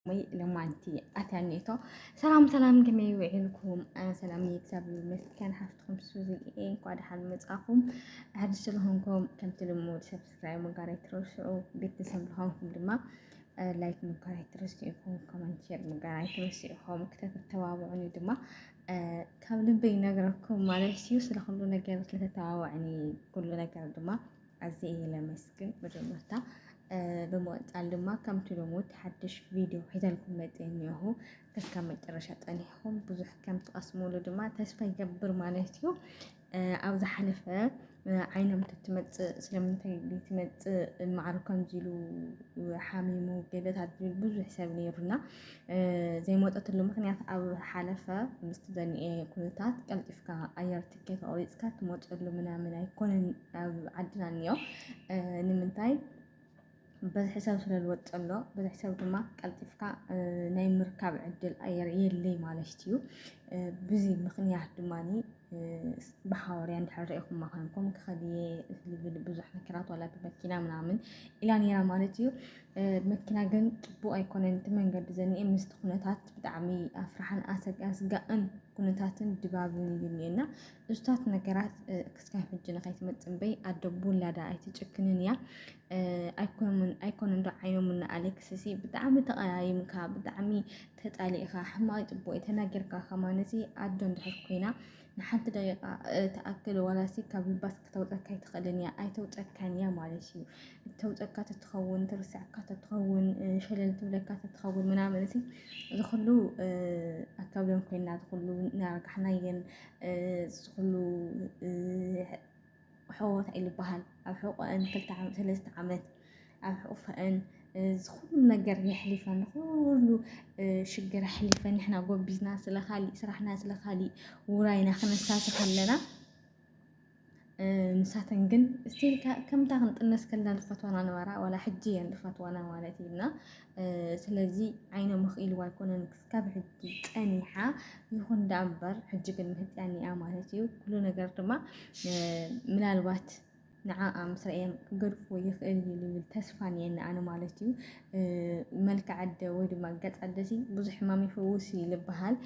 ወይ ለማንቲ ኣታኒቶ ሰላም ሰላም ከመይ ውዒልኩም ሰላም እግዚኣብሔር ይመስገን ሓፍትኩም ሱዚ እየ እንኳ ደሓን መጻኹም ሓድሽ ስለሆንኩም ከምቲ ልሙድ ሰብስክራይብ ምግባር ኣይትረስዑ ቤተሰብ ልሆንኩም ድማ ላይክ ምግባር ኣይትረስዑ ኢኹም ኮመንት ሼር ምግባር ኣይትረስዑ ኢኹም ክተተባብዑኒ ድማ ካብ ልበይ ይነግረኩም ማለት እዩ ስለ ኩሉ ነገር ስለተተባብዑኒ ኩሉ ነገር ድማ ኣዝየ እየ ለመስግን መጀመርታ ብምቕፃል ድማ ከምቲ ልሙድ ሓድሽ ቪድዮ ሒዘልኩም መፀ እኒሆ ከስካብ መጨረሻ ፀኒሕኹም ብዙሕ ከም ትቐስሙሉ ድማ ተስፋ ይገብር ማለት እዩ ኣብ ዝሓለፈ ዓይኖም ትትመፅእ ስለምንታይ ትመፅእ ማዕሩ ከምዚ ኢሉ ሓሚሙ ገለታት ዝብል ብዙሕ ሰብ ነይሩና ዘይመጠትሉ ምክንያት ኣብ ሓለፈ ምስቲ ዘኒኤ ኩነታት ቀልጢፍካ ኣየርቲ ትኬት ቆሪፅካ ትመፀሉ ምናምን ኣይኮነን ኣብ ዓድና እኒኦ ንምንታይ በዚ ሕሳብ ስለ ዝወፅ ዘሎ በዚ ሕሳብ ድማ ቀልጢፍካ ናይ ምርካብ ዕድል ኣየር የለይ ማለት እዩ ብዚ ምክንያት ድማ ብሓወርያ እንድሕር ሪኢኹማ ኮይንኩም ክኸድየ ዝብል ብዙሕ ነገራት ዋላ ብመኪና ምናምን ኢላ ነይራ ማለት እዩ መኪና ግን ፅቡቅ ኣይኮነን እቲ መንገዲ ዘኒኤ ምስቲ ኩነታት ብጣዕሚ ኣፍራሕን ኣስጋእን ኩነታትን ድባብን እዩ እኒኤ እና እሱታት ነገራት ክስካብ ሕጂ ንኸይትመፅእ እምበይ ኣደ ብውላዳ ኣይትጭክንን እያ ኣይኮነ እንዶ ዓይኖም እና ኣሌክስ ሲ ብጣዕሚ ተቐያይምካ ብጣዕሚ ተጣሊእኻ ሕማቅ ፅቡቅ ተናጊርካ ከማን እዚ ኣዶ እንድሕር ኮይና ንሓንቲ ደቂቃ ተኣክል ዋላሲ ካብ ልባስ ክተውፀካ ኣይትኽእልን እያ ኣይተውፀካን እያ ማለት እዩ ተውፀካ ተትኸውን ትርስዐካ ተትኸውን ሸለል ትብለካ ተትኸውን ምናምን እቲ ዝኩሉ ኣካብ ሎም ኮይና ዝኩሉ ናርጋሕናየን ዝኩሉ ሕወት ኣይልበሃል ኣብ ሕቆአን ክልተ ዓመት ሰለስተ ዓመት ኣብ ሕቁፈአን ዝኩሉ ነገር የሕሊፈን ኩሉ ሽግር ኣሕሊፈን ንሕና ጎቢዝና ስለካሊእ ስራሕና ስለካሊእ ውራይና ክነሳትፍ ኣለና። ንሳተን ግን ስቲል ከምታ ክንጥነስ ከለና ዝፈትዋና ነበራ ዋላ ሕጂ እየን ዝፈትዋና ማለት እዩ እና ስለዚ ዓይነ ምኽኢልዋ ኣይኮነን ክስካብ ሕጂ ፀኒሓ ይኹን ዳ እምበር ሕጂ ግን ምህጥያን እያ ማለት እዩ ኩሉ ነገር ድማ ምናልባት ንዓኣ ምስ ርእየም ክገድፎ ይኽእል እዩ ዝብል ተስፋ እኒአኒ ኣነ ማለት እዩ መልክዕ ኣደ ወይ ድማ ገፅ ኣደ ብዙሕ ሕማም ይፈውስ እዩ ዝበሃል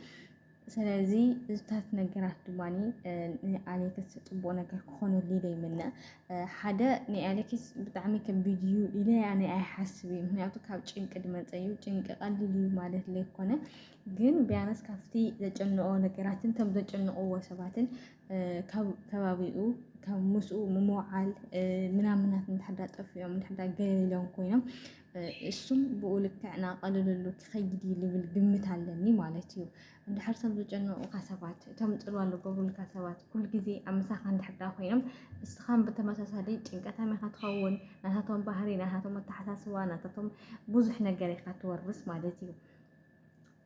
ስለዚ እዝታት ነገራት ድማ ንኣሌክስ ፅቡቅ ነገር ክኾነሉ ዘይምነ ሓደ ናይ ኣሌክስ ብጣዕሚ ከቢድ እዩ ኢለ ያነ ኣይሓስብ እዩ ምክንያቱ ካብ ጭንቂ ድመፀ እዩ ጭንቂ ቀሊል እዩ ማለት ዘይኮነ ግን ቢያንስ ካብቲ ዘጨንቆ ነገራትን ከም ዘጨንቅዎ ሰባትን ካብ ከባቢኡ ካብ ምስኡ ምምውዓል ምናምናት እንድሕዳ ጠፊኦም እንድሕዳ ገሊሎም ኮይኖም እሱም ብኡ ልክዕ ናቐለለሉ ክኸይድ እዩ ልብል ግምት ኣለኒ ማለት እዩ። እንድሕር እቶም ዝጨነቑኻ ሰባት እቶም ፅልዋ ዝገብሩልካ ሰባት ኩሉ ግዜ ኣብ ምሳኻ እንድሕር ዳ ኮይኖም እስኻን ብተመሳሳሊ ጭንቀታም ኢኻ ትኸውን። ናታቶም ባህሪ፣ ናታቶም ኣተሓሳስባ፣ ናታቶም ብዙሕ ነገር ኢኻ ትወርስ ማለት እዩ።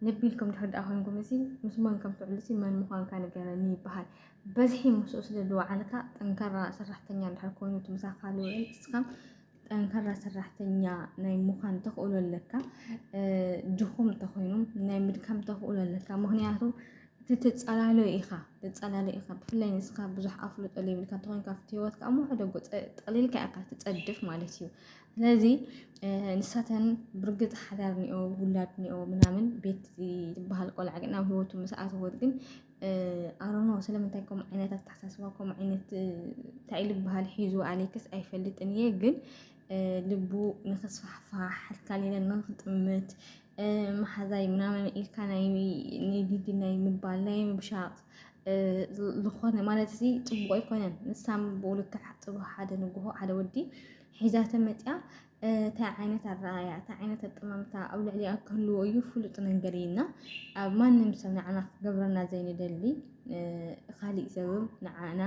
ልቢ ኢልኩም ድሕሪ ደኣ ኮይንኩም እዚ ምስ መን ከም ትውዕል እዚ መን ምዃንካ ንገረኒ ይበሃል። በዝሒ ምስኡ ስለ ዝወዓልካ ጠንካራ ሰራሕተኛ ድሕሪ ኮይኑ እቲ ምሳኻ ዝውዕል ንስኻ ጠንካራ ሰራሕተኛ ናይ ምዃን ተኽእሎ ኣለካ ድኹም ተኾይኑ ናይ ምድካም ተኽእሎ ኣለካ ምክንያቱ እቲ ትፀላሎ ኢኻ ትፀላሎ ኢኻ ብፍላይ ንስኻ ብዙሕ ኣፍልጦ ዘይብልካ እንተኾይንካ ኣብቲ ሂወትካ እሞ ሕደጎ ጠቕሊልካ ኢኻ ትፀድፍ ማለት እዩ ስለዚ ንሳተን ብርግጽ ሓዳር ኒኦ ውላድ ኒኦ ምናምን ቤት ዝበሃል ቆልዓ ግን ኣብ ህይወቱ ምስ ኣተወት ግን ኣሮኖ ስለምንታይ ከምኡ ዓይነት ኣተሓሳስባ ከምኡ ዓይነት እንታይ ዝበሃል ሒዙ ኣሌክስ ኣይፈልጥን እየ ግን ልቡ ንክስፋሕፋሕ ሓልካሊለ ንክጥምት መሓዛይ ምናምን ኢልካ ናይ ሊዲ ናይ ምባል ናይ ምብሻቕ ዝኾነ ማለት እዚ ፅቡቕ ኣይኮነን። ንሳም ብኡ ልክዕ ሓደ ንጉሆ ሓደ ወዲ ሒዛቶ መፂኣ እንታይ ዓይነት ኣረኣያ እንታይ ዓይነት ኣጠማምታ ኣብ ልዕሊኣ ክህልዎ እዩ ፍሉጥ ነገር እዩ እና ኣብ ማንም ሰብ ንዓና ክገብረና ዘይንደሊ ካሊእ ሰብም ንዓና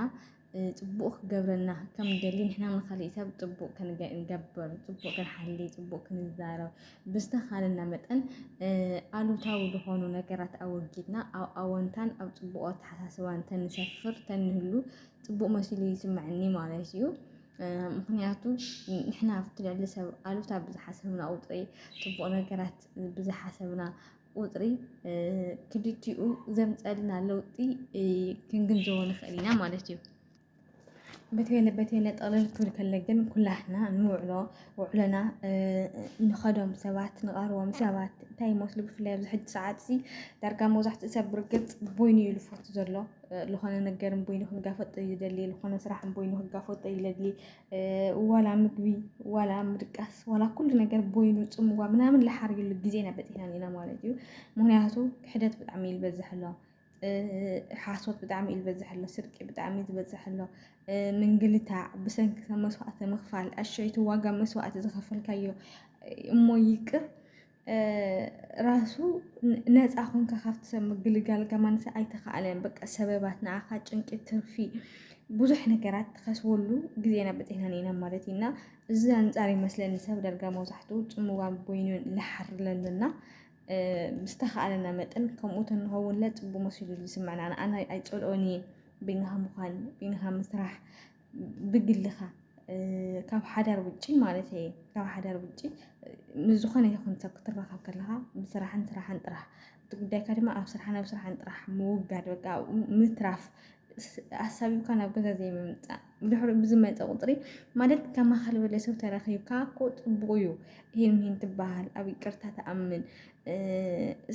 ፅቡቅ ክገብረና ከም ደሊ ንሕና ንካሊእ ሰብ ፅቡቅ ክንገብር ፅቡቅ ክንሓሊ ፅቡቅ ክንዛረብ ብዝተኻለና መጠን ኣሉታዊ ዝኾኑ ነገራት ኣወጊድና ኣብ ኣወንታን ኣብ ፅቡቅ ኣተሓሳስባን ተንሰፍር ተንህሉ ፅቡቅ መሲሉ ይስምዐኒ ማለት እዩ። ምክንያቱ ንሕና ኣብቲ ልዕሊ ሰብ ኣሉታ ብዝሓሰብና ቁፅሪ ፅቡቅ ነገራት ብዝሓሰብና ቁፅሪ ክልቲኡ ዘምፀልና ለውጢ ክንግንዘቦ ንኽእል ኢና ማለት እዩ። በተይነ በተይነ ጠቕልል ክብል ከለ ግን ኩላትና ንውዕሎ ውዕሎና ንኸዶም ሰባት ንቐርቦም ሰባት እንታይ ይመስሉ ብፍላይ ኣብዚ ሕጂ ሰዓት እዚ ዳርጋ መብዛሕትኡ ሰብ ብርግፅ ቦይኑ እዩ ዝፈቱ ዘሎ ልኾነ ነገር እምበይኑ ክጋፈጦ እዩ ዝደሊ፣ ልኾነ ስራሕ እምበይኑ ክጋፈጦ እዩ ለድሊ፣ ዋላ ምግቢ፣ ዋላ ምድቃስ፣ ዋላ ኩሉ ነገር ቦይኑ ጽምዋ ምናምን ልሓርዩሉ ግዜ ኢና በጺሕና ኢና ማለት እዩ። ምክንያቱ ክሕደት ብጣዕሚ እዩ ዝበዝሕ ኣሎ። ሓሶት ብጣዕሚ እዩ ዝበዝሕ ኣሎ፣ ስርቂ ብጣዕሚ እዩ ዝበዝሕ ኣሎ፣ ምንግልታዕ ብሰንኪ ሰብ መስዋእቲ ምኽፋል፣ ኣሸይቲ ዋጋ መስዋእቲ ዝኸፈልካዮ እሞ ይቅር ራሱ ነፃ ኮንካ ካብቲ ሰብ ምግልጋል ከማንሰ ኣይተኸኣለን በቃ ሰበባት ንዓኻ ጭንቂ ትርፊ ብዙሕ ነገራት ትኸስበሉ ግዜና በፂሕና ኢና ማለት እዩ እና እዚ ኣንፃር ይመስለኒ ሰብ ዳርጋ መብዛሕትኡ ፅምዋን ቦይኑን ልሓር ለለና ዝተኸኣለና መጠን ከምኡ ተንኸውንለ ፅቡቅ መሲሉ ዝስምዐና ኣነ ኣይፀልኦን እየ በይንኻ ምዃን በይንኻ ምስራሕ ብግልኻ ካብ ሓዳር ውጪ ማለት እየ ካብ ሓዳር ውጪ ምስ ዝኾነ ይኹን ሰብ ክትራኸብ ከለኻ ብስራሕን ስራሕን ጥራሕ እቲ ጉዳይካ ድማ ኣብ ስራሕን ኣብ ስራሕን ጥራሕ ምውጋድ በቃ ምትራፍ ኣሳቢብካ ናብ ገዛ ዘይምምፃእ ድሕሪ ብዝመፀ ቁፅሪ ማለት ከማኻ ዝበለ ሰብ ተረኺብካ እኮ ፅቡቕ እዩ ይህን ይህን ትበሃል ኣብ ይቅርታ ትኣምን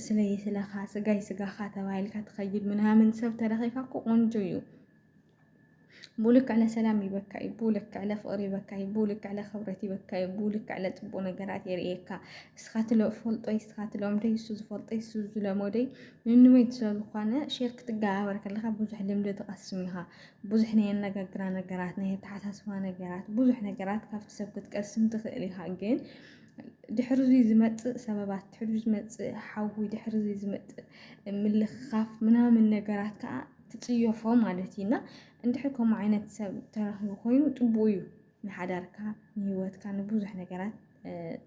ስለይ ስለኻ ስጋይ ስጋኻ ተባሂልካ ትኸይድ ምናምን ሰብ ተረኺብካ እኮ ቆንጆ እዩ ብልክዕ ለሰላም ይበካ እዩ ብልክዕ ለፍቅሪ ይበካ እዩ ብልክዕ ለክብረት ይበካ እዩ ብልክዕ ለፅቡቅ ነገራት የርእየካ እስካ ትሎ ፈልጦ እስካ ትሎም ደይ እሱ ዝፈልጦ እሱ ዝለመደይ ንንበይት ስለዝኮነ ሼር ክትገባበር ከለካ ብዙሕ ልምዲ ትቀስም ኢካ ብዙሕ ናይ ኣነጋግራ ነገራት ናይ ኣተሓሳስባ ነገራት ብዙሕ ነገራት ካብቲ ሰብ ክትቀስም ትክእል ኢካ ግን ድሕሪ እዚ ዝመፅእ ሰበባት ድሕሪ ዝመፅእ ሓዊ ድሕሪ እዚ ዝመፅእ ምልክካፍ ምናምን ነገራት ከዓ ትጽዮፎ ማለት እዩ እና እንድሕር ከምኡ ዓይነት ሰብ ተረኽቢ ኮይኑ ጥቡቅ እዩ ንሓዳርካ ንሂወትካ ንብዙሕ ነገራት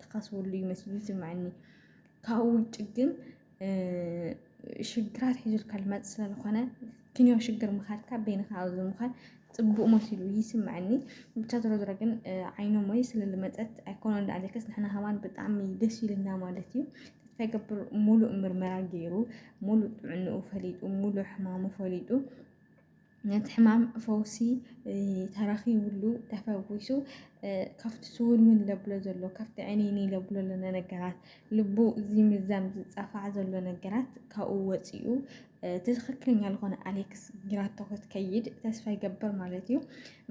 ትኸስብሉ እዩ መስሉ ዝስምዐኒ ካብኡ ውጭ ግን ሽግራት ሒዙልካ ልመጽእ ስለዝኾነ ክንዮ ሽግር ምኻድካ በይንኻ ኣብዚ ምዃን ጽቡቅ መሲሉ ይስምዐኒ ብቻ ዝሮ ዝሮ ግን ዓይኖም ወይ ስለ ልመጸት ኣይኮነ እንዳ ኣለከስ ንሕና ከማን ብጣዕሚ ደስ ኢልና ማለት እዩ ተስፋ ይገብር ሙሉእ ምርመራ ገይሩ ሙሉእ ጥዕንኡ ፈሊጡ ሙሉእ ሕማሙ ፈሊጡ ነቲ ሕማም ፈውሲ ተረኺብሉ ተፈዊሱ ካብቲ ስውንውን ለብሎ ዘሎ ካብቲ ዕኒኒ ለብሎ ለነ ነገራት ልቡ እዚ ምዛም ዝፃፋዕ ዘሎ ነገራት ካብኡ ወፂኡ ትክክለኛ ዝኾነ ኣሌክስ ጊራቶ ክትከይድ ተስፋ ይገብር ማለት እዩ።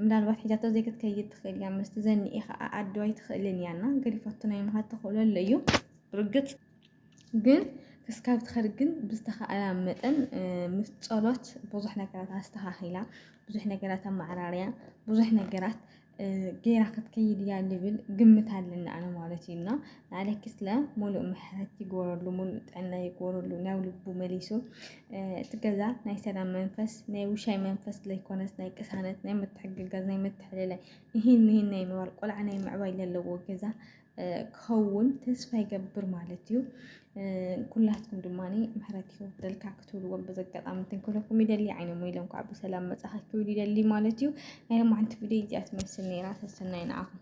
ምናልባት ሒዛቶ ዘይክትከይድ ትኽእል እያ ምስቲ ዘኒኤ ከዓ ኣዶ ኣይትኽእልን እያ እና ገዲፋቶ ናይ ምኻድ ተኽእሎ ኣሎ እዩ ርግፅ ግን ክስካብ ትኸድ ግን ብዝተኸኣላ መጠን ምስ ጸሎት ብዙሕ ነገራት ኣስተኻኺላ ብዙሕ ነገራት ኣመዓራርያ ብዙሕ ነገራት ጌራ ክትከይድ እያ ልብል ግምት ኣለኒ ኣነ ማለት እዩ እና ንኣለኪስለ ሙሉእ ምሕረት ይግበረሉ ሙሉእ ጥዕና ይግበረሉ ናብ ልቡ መሊሱ እቲ ገዛ ናይ ሰላም መንፈስ ናይ ውሻይ መንፈስ ዘይኮነስ ናይ ቅሳነት ናይ ምትሕግጋዝ ናይ ምትሕልላይ ይህን ይህን ናይ ምባል ቆልዓ ናይ ምዕባይ ዘለዎ ገዛ ክኸውን ተስፋ ይገብር ማለት እዩ ኩላትኩም ድማ ምሕረት ይወርደልካ ክትብልዎም በዚ ኣጋጣሚ ትንክለኩም ይደሊ ዓይኖም ኢሎም ከዓ ብሰላም መፃኸ ክብል ይደሊ ማለት እዩ ናይ ሎማዓንቲ ቪድዮ እዚኣ ትመስል ነይራ ሰሰናይ ንዓኹም